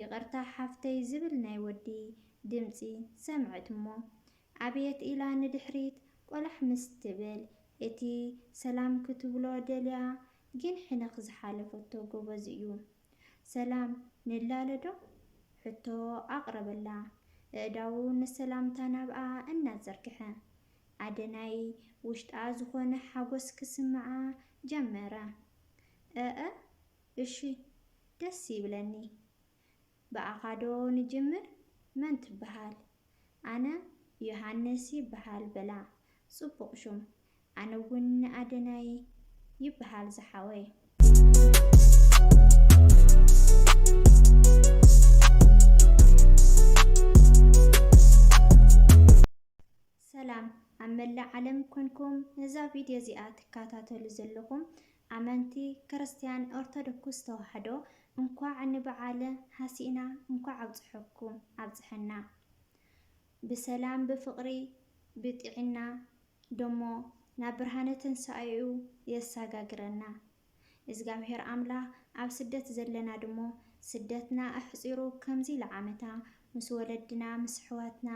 ይቅርታ ሓፍተይ ዝብል ናይ ወዲ ድምጺ ሰምዕት እሞ ኣብየት ኢላ ንድሕሪት ቆላሕ ምስ ትብል እቲ ሰላም ክትብሎ ደልያ ግን ሕነኽ ዝሓለፈቶ ጎበዝ እዩ ሰላም ንላለ ዶ ሕቶ ኣቅረበላ እእዳዉ ንሰላምታ ናብኣ እናዘርግሐ ኣደ ናይ ዉሽጣ ዝኾነ ሓጎስ ክስምዓ ጀመረ እእ እሺ ደስ ይብለኒ ብኣኻ ዶ ንጅምር መን ትብሃል ኣነ ዮሃንስ ይብሃል በላ ጽቡቅ ሹም ኣነ ውን ኣደናይ ይብሃል ዝሓወይ። ሰላም ኣብ መላእ ዓለም ኮንኩም ነዛ ቪድዮ እዚኣ ትካታተሉ ዘለኹም ኣመንቲ ክርስትያን ኦርቶዶክስ ተዋሕዶ እንኳዕ ንብዓለ ሀሲእና እንኳዕ ኣብፀሐኩም ኣብፀሐና ብሰላም ብፍቅሪ ብጢዒና ደሞ ናብ ብርሃነ ትንሳኤኡ የሳጋግረና እዝጋብሔር ኣምላክ ኣብ ስደት ዘለና ድሞ ስደትና ኣሕፂሩ ከምዚ ልዓመታ ምስ ወለድና ምስ ኣሕዋትና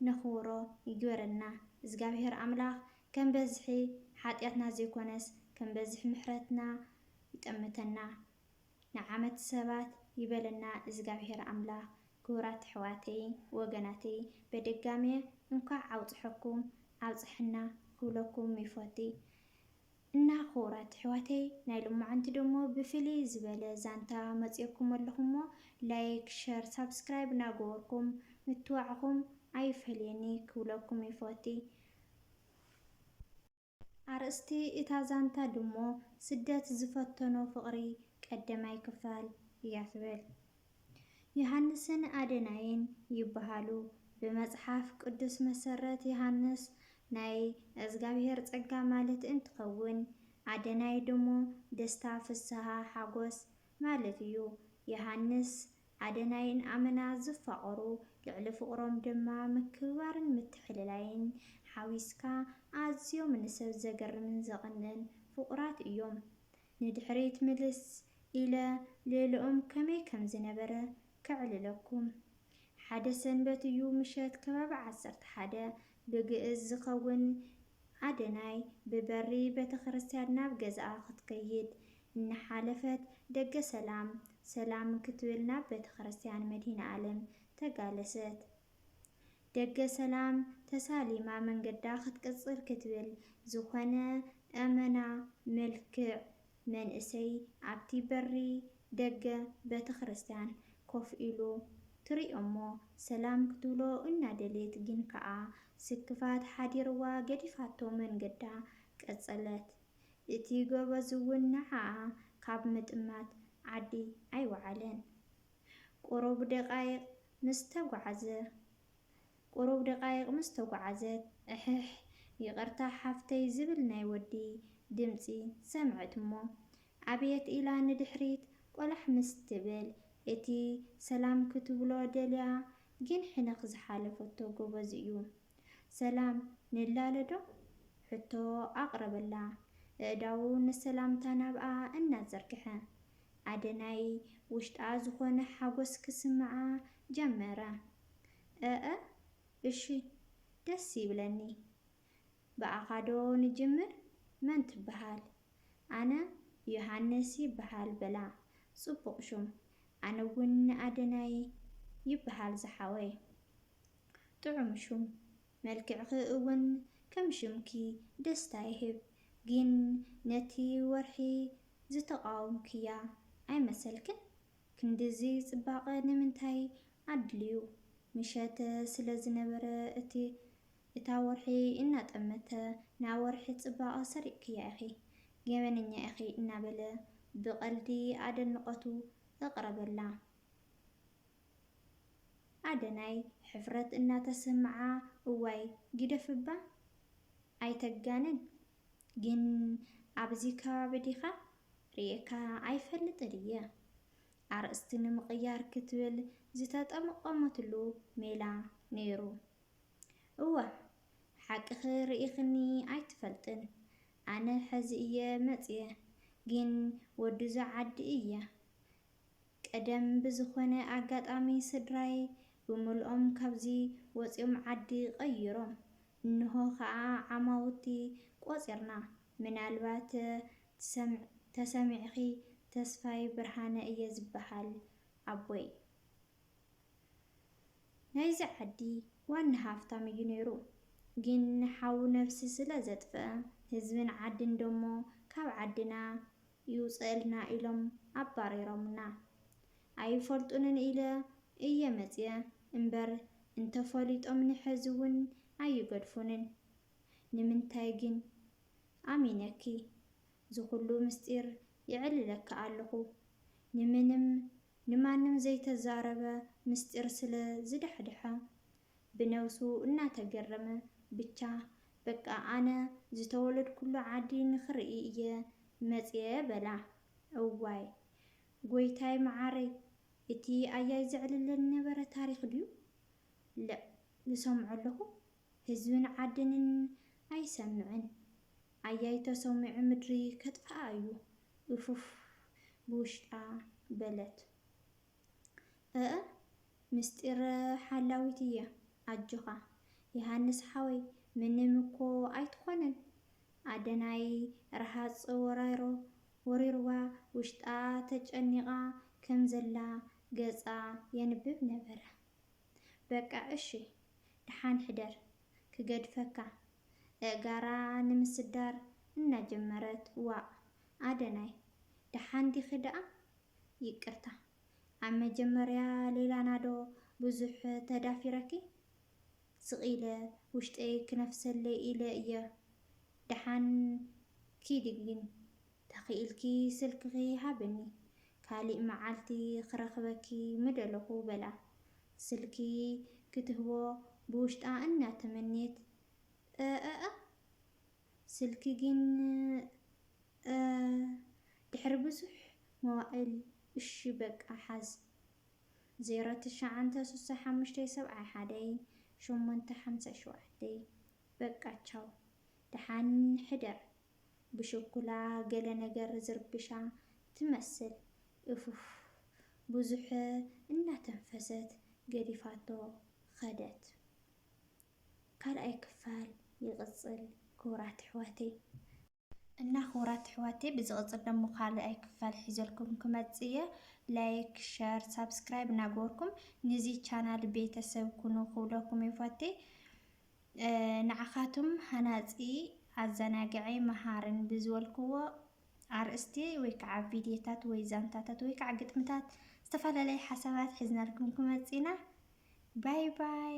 ነኽብሮ ይግበረልና እዝጋብሄር ኣምላኽ ከም በዝሒ ሓጥያትና ዘይኮነስ ከም በዝሒ ምሕረትና ይጠምተና ንዓመት ሰባት ይበለና እዝጋብሄር ኣምላኽ ክቡራት ኣሕዋተይ ወገናተይ በደጋሜ እንኳዕ ኣውፀሐኩም ኣብፀሐና ክብለኩም ይፎቲ እና ኩቡራት እሕዋተይ ናይ ሎማዓንቲ ደሞ ብፍልይ ዝበለ ዛንታ መፅኦኩም ኣለኩ እሞ ላይክ ሸር ሳብስክራይብ ናገበርኩም ምትባዕኩም ኣይፈለየኒ ክብለኩም ይፎቲ ኣርእስቲ እታ ዛንታ ድሞ ስደት ዝፈተኖ ፍቅሪ ቀደማይ ክፋል እያ ትብል። ዮሃንስን ኣደናይን ይበሃሉ። ብመጽሓፍ ቅዱስ መሰረት ዮሃንስ ናይ እዝጋብሄር ጸጋ ማለት እንትኸውን ኣደናይ ድሞ ደስታ ፍስሃ ሓጎስ ማለት እዩ። ዮሃንስ ኣደናይን ኣመና ዝፋቐሩ ልዕሊ ፍቕሮም ድማ ምክብባርን ምትሕልላይን ሓዊስካ ኣዝዮም ንሰብ ዘገርምን ዘቕንእን ፍቑራት እዮም። ንድሕሪት ምልስ ኢለ ሌልኦም ከመይ ከም ዝነበረ ከዕልለኩም። ሓደ ሰንበት እዩ ምሸት ከባቢ ዓሰርተ ሓደ ብግእዝ ዝኸውን ኣደናይ ብበሪ ቤተክርስትያን ናብ ገዝኣ ክትከይድ እናሓለፈት ደገ ሰላም ሰላም ክትብል ናብ ቤተክርስትያን መድሂነኣለም ተጋለሰት። ደገ ሰላም ተሳሊማ መንገዳ ክትቅጽል ክትብል ዝኾነ ኣመና ምልክዕ መንእሰይ ኣብቲ በሪ ደገ በተክርስትያን ኮፍ ኢሉ ትሪኦሞ ሰላም ክትብሎ እናደልየት ግን ከኣ ስክፋት ሓዲርዋ ገዲፋቶ መንገዳ ቀጸለት እቲ ጎበዝውን ንዓኣ ካብ ምጥማት ዓዲ ኣይወዓለን ቁሩብ ደቓይቕ ምስ ተጓዕዘ ቁሩብ ደቓይቕ ምስ ተጓዕዘት እሕሕ ይቕርታ ሓፍተይ ዝብል ናይ ወዲ ድምጺ ሰምዐት እሞ ኣብየት ኢላ ንድሕሪት ቆላሕ ምስ ትብል እቲ ሰላም ክትብሎ ደልያ ግን ሕንኽ ዝሓለፈቶ ጎበዝ እዩ ሰላም ንላለ ዶ? ሕቶ ኣቕረበላ ኣእዳዉ ንሰላምታ ናብኣ እናዘርግሐ። ኣደ ናይ ውሽጣ ዝኾነ ሓጎስ ክስምዓ ጀመረ። እእ እሺ ደስ ይብለኒ። ብኣኻ ዶ ንጅምር? መን ትበሃል? ኣነ ዮሃንስ ይበሃል በላ ጽቡቕ ሹም። ኣነ ውን ኣደናይ ይበሃል ዝሓወይ። ጥዑም ሹም መልክዕኺ እውን ከም ሽምኪ ደስታ ይህብ ጊን ነቲ ወርሒ ዝተቃወምክያ ኣይመሰልክን ክንድዚ ጽባቀ ንምንታይ ኣድልዩ ምሸተ ስለ ዝነበረ እቲ እታ ወርሒ እናጠመተ ንኣወርሒ ጽባቀ ሰሪቅክያ ኢኺ ገበነኛ ኢኺ እናበለ ብቀልዲ ኣደንቆቱ እቅረበላ ኣደናይ ሕፍረት እናተሰምዓ እዋይ ግደፍ እባ ኣይተጋንን ግን ኣብዚ ከባቢ ዲኻ ሪኤካ ኣይፈልጥን እየ ኣርእስቲ ንምቕያር ክትብል ዝተጠምቐመትሉ ሜላ ነይሩ እወ ሓቅኺ ሪኢኽኒ ኣይትፈልጥን ኣነ ሕዚ እየ መፅየ ግን ወድዛ ዓዲ እየ ቀደም ብዝኾነ ኣጋጣሚ ስድራይ ብምልኦም ካብዚ ወጺኦም ዓዲ ቐይሮም። እንሆ ኸኣ ዓማውቲ ቖጺርና። ምናልባት ተሰሚዕኺ ተስፋይ ብርሃነ እየ ዝብሃል። ኣቦይ። ናይዚ ዓዲ ዋና ሃፍታም እዩ ነይሩ። ግን ሓው ነብሲ ስለ ዘጥፍእ ህዝብን ዓድን ደሞ ካብ ዓድና ይውጸእልና ኢሎም ኣባሪሮምና። ኣይፈልጡንን ኢለ እየ መጺኤ እምበር እንተፈሊጦምኒ ሕዚ ውን ኣይገድፉንን። ንምንታይ ግን? ኣሚነኪ ዝኹሉ ምስጢር የዕልለኪ ኣለኹ። ንምንም ንማንም ዘይተዛረበ ምስጢር ስለ ዝዳሕደሐ ብነብሱ እናተገረመ ብቻ በቃ ኣነ ዝተወለድኩሉ ዓዲ ንክርኢ እየ መፅየ በላ እዋይ ጎይታይ ማዓረይ እቲ ኣያይ ዘዕልለኒ ዝነበረ ታሪክ ድዩ ልዕ ዝሰምዖ ኣለኩ ህዝብን ዓድንን ኣይሰምዕን ኣያይ ተሰሚዑ ምድሪ ከጥፍኣ እዩ ኡፍፍ ብውሽጣ በለት። እእ ምስጢር ሓላዊት እየ ኣጆኻ የሃንስ ሓወይ ምንም እኮ ኣይትኾንን ኣደናይ ረሃፅ ወራይሮ ወሪሩዋ ውሽጣ ተጨኒቓ ከም ዘላ ገፃ የንብብ ነበረ በቃ እሺ ደሓን ሕደር ክገድፈካ እእጋራ ንምስዳር እናጀመረት ዋእ ኣደናይ ደሓን ዲኺ ደኣ ይቅርታ ኣብ መጀመርያ ሌላና ዶ ብዙሕ ተዳፊረኪ ስቅ ኢለ ውሽጠይ ክነፍሰለይ ኢለ እየ ደሓን ኪዲ ግን ተኪኢልኪ ስልክኪ ሃብኒ ካሊእ መዓልቲ ክረክበኪ ምደለኩ በላ ስልኪ ክትህቦ ብውሽጣ እና ተመንየት እእእእ ስልኪ ጊን እእ ድሕሪ ብዙሕ መዋእል እሺ በቃ ሓዝ ዜሮ ትሽዓንተ ሱሳ ሓሙሽተ ሰብዓይ ሓደ ሸሞንተ ሓምሳ ሸውዓተ በቃ ቻው ድሓን ሕደር ብሽኩላ ገለ ነገር ዝርብሻ ትመስል እፍፍ ብዙሕ እናተንፈሰት ገዲፋቶ ከደት ካልኣይ ክፋል ይቅጽል ክቡራት ኣሕዋተይ። እና ክቡራት ኣሕዋተይ ብዝቅጽል ደሞ ካልኣይ ክፋል ሒዘልኩም ክመጽእ እየ ላይክ ሸር ሳብስክራይብ እናገበርኩም ንዚ ቻናል ቤተሰብ ኩኑ ክብለኩም ይፈትይ ንዓካቱም ሃናጺ ኣዘናጋዒ መሃርን ብዝበልክዎ ኣርእስቲ ወይ ከዓ ቪድዮታት ወይ ዛንታታት ወይ ከዓ ግጥምታት ዝተፈላለዩ ሓሳባት ሒዝናልኩም ክመፅእ ኢና ባይ ባይ